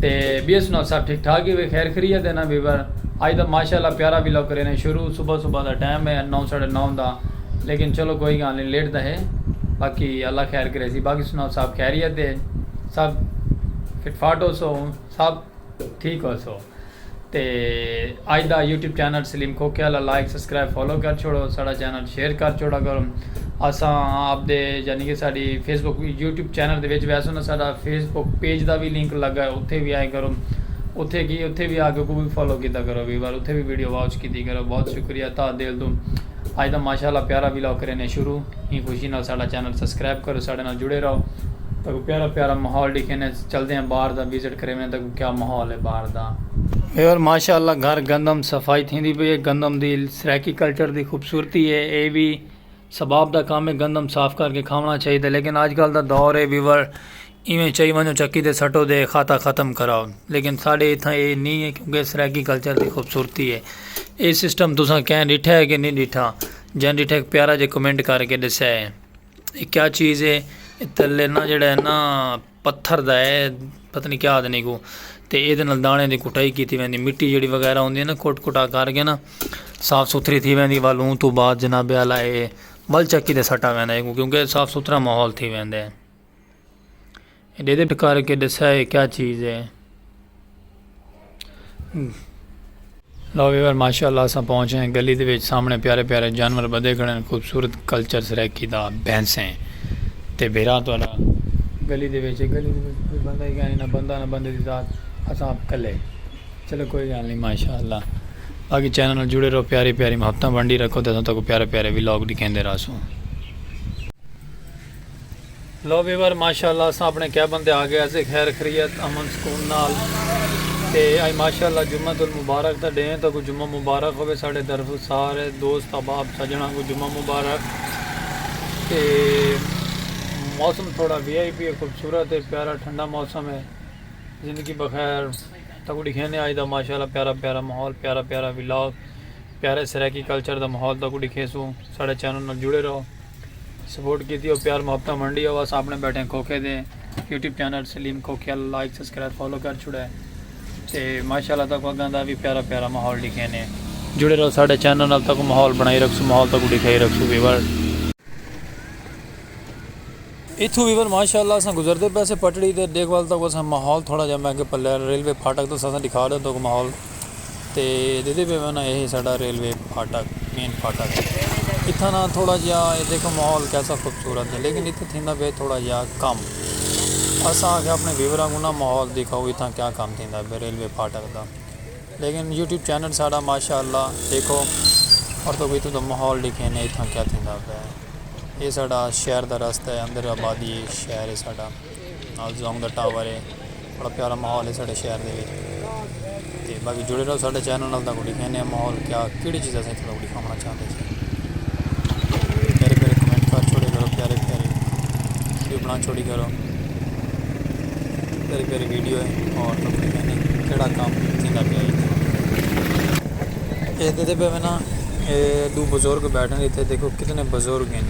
تے B S نال سب ٹھیک ٹھاک ہی وے خیر خریت ہے نا ویور آج دا ماشاءاللہ پیارا ویلاگ کرینے شروع صبح صبح دا ٹائم ہے نو ساڑھے نو دا لیکن چلو کوئی گال نہیں لیٹ دا ہے باقی اللہ خیر کرے سی باقی سنا سب خیریت ہے سب فٹ فاٹ ہو سو سب ٹھیک ہو سو تے اج دا یوٹیوب چینل سلیم کھوکھے آلا لائک سبسکرائب فالو کر چھوڑو ساڑا چینل شیئر کر چھوڑا کرو اساں آپ دے یعنی کہ ساڑی فیس بک یوٹیوب چینل دے وچ ویسو نا ساڑا فیس بک پیج دا بھی لنک لگا ہے اتھے بھی آئے کرو اتھے کی اتھے بھی آ کے کو بھی فالو کیتا کرو بھی بار اتھے بھی ویڈیو واچ کیتی کرو بہت شکریہ تاں دل تو اج دا ماشاءاللہ پیارا ویلاگ کرینے شروع ہی خوشی نال ساڑا چینل سبسکرائب کرو ساڑے نال جڑے رہو تاکہ پیارا پیارا ماحول ڈیکھینے چلدے ہیں باہر دا وزٹ کرینے تاکہ کیا ماحول ہے باہر دا۔ ہیور ماشاءاللہ گھر گندم صفائی تھیندی پئی ہے گندم دی سرائیکی کلچر دی خوبصورتی ہے اے وی ثباب دا کام ہے گندم صاف کر کے کھاونا چاہی دے لیکن آج کل دا دور ہے ویور ایویں چاہی ونجو چکی دے سٹو دے خاتا ختم کراؤ لیکن ساڑے اتھاں اے نہیں ہے کیونکہ سرائیکی کلچر دی خوبصورتی ہے اے سسٹم تساں کہیں ڈٹھا ہے کہ نہیں ڈٹھا جن ڈٹھا ایک پیارا جے کمنٹ کر کے ڈسے ہے اے کیا چیز ہے اے تلے نا جڑا ہے نا پتھر دا ہے پتہ نہیں کیا آدھنے کو تے اے دے نال دانے دی کٹائی کیتی ویندی مٹی جڑی وغیرہ ہوندی ہے نا کٹ کٹا کر کے نا صاف ستھری تھی ویندی والوں تو بعد جناب اعلی اے ول چکی دے سٹا ویندا ہے کیونکہ صاف ستھرا ماحول تھی ویندا ہے اے دے دے کر کے دسیا ہے کیا چیز ہے لو ویور ماشاء اللہ اساں پہنچے ہیں گلی دے وچ سامنے پیارے پیارے جانور بدے کھڑے ہیں خوبصورت کلچر سرائیکی دا بینسیں تے بھیرا تو اللہ گلی دے وچ گلی دے وچ کوئی بندہ ہی گانی نہ بندہ نہ بندے دی ذات اساں آپ کلے چلو کوئی گال نہیں ماشاء اللہ باقی چینل نال جڑے رہو پیاری پیاری محبتاں بنڈی رکھو تے اساں تکو پیارے پیارے ویلاگ دکھیں دے راسوں لو ویور ماشاءاللہ اساں اپنے کیبن تے آگئے ہسے خیر خریت امن سکون نال تے اج ماشاءاللہ جمعۃ المبارک دا ڈینھ ہے تہاکوں جمعہ مبارک ہووے ساڈے طرفوں سارے دوست احباب سجنڑاں کوں جمعہ مبارک تے موسم تھوڑا وی آئی پی ہے خوبصورت ہے پیارا ٹھنڈا موسم ہے زندگی بخیر تہاکوں ڈکھینے اج دا ماشاءاللہ پیارا پیارا ماحول پیارا پیارا ولاگ پیارے سرائیکی کلچر دا ماحول تہاکوں ڈکھیسوں ساڈے چینل نال جڑے رہو سپورٹ کیتی او پیار محبتاں ونڈی او اساں اپنے بیٹھے کھوکھے دے یوٹیوب چینل سلیم کھوکھیا لائک سبسکرائب فالو کر چھڑے تے ماشاءاللہ تاکو اگاں دا وی پیارا پیارا ماحول ڈکھینے جڑے رہو ساڈے چینل نال تاکو ماحول بنائی رکھسو ماحول تاکو ڈکھائی رکھسو ویور ایتھوں ویون ماشاء اللہ اساں گزردے پئے سے پٹڑی تے ڈیکھ ول توکوں اساں ماحول تھوڑا جیہا میں کہ پلے ریلوے پھاٹک توں اساں ڈکھا ڈیوں توکوں ماحول تے دیدے پئے ویون اے ہے ساڈا ریلوے پھاٹک مین پھاٹک اتھاں نا تھوڑا جیہا اے دیکھو ماحول کیسا خوبصورت ہے لیکن اتھاں تھیندا پئے تھوڑا جیہا کم اساں آکھیا اپنے ویوراں کوں نا ماحول دکھاؤ اتھاں کیا کم تھیندا پئے ریلوے پھاٹک دا۔ لیکن یوٹیوب چینل ساڈا ماشاء اللہ ڈیکھو اور تہاکوں اتھوں دا ماحول ڈکھینے اتھاں کیا تھیندا پئے اے ساڈا شہر دا رستہ ہے اندر آبادی ہے شہر ہے ساڈا نال زونگ دا ٹاور ہے بڑا پیارا ماحول ہے ساڈے شہر دے وچ تے باقی جڑے رہو ساڈے چینل نال تہاکوں ڈکھینے ماحول کیا کیڑی چیزاں اساں اتھوں دا آونا چاہندے جے پیارے پیارے کمنٹ کر چھوڑے کرو پیارے پیارے ویڈیو بنا چھوڑی کرو پیارے پیارے ویڈیو ہے اور تو کوئی کہنے کیڑا کام تھیندا پیا اے تے تے پہ نا دو بزرگ بیٹھے ہیں تے دیکھو کتنے بزرگ ہیں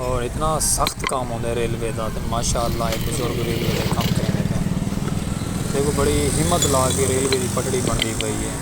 اور اتنا سخت کام ہوندے ریلوے دا تے ماشاءاللہ اے بزرگ ریلوے دے کام کریں دیکھو بڑی ہمت لا کے ریلوے دی پٹڑی بندی پئی ہے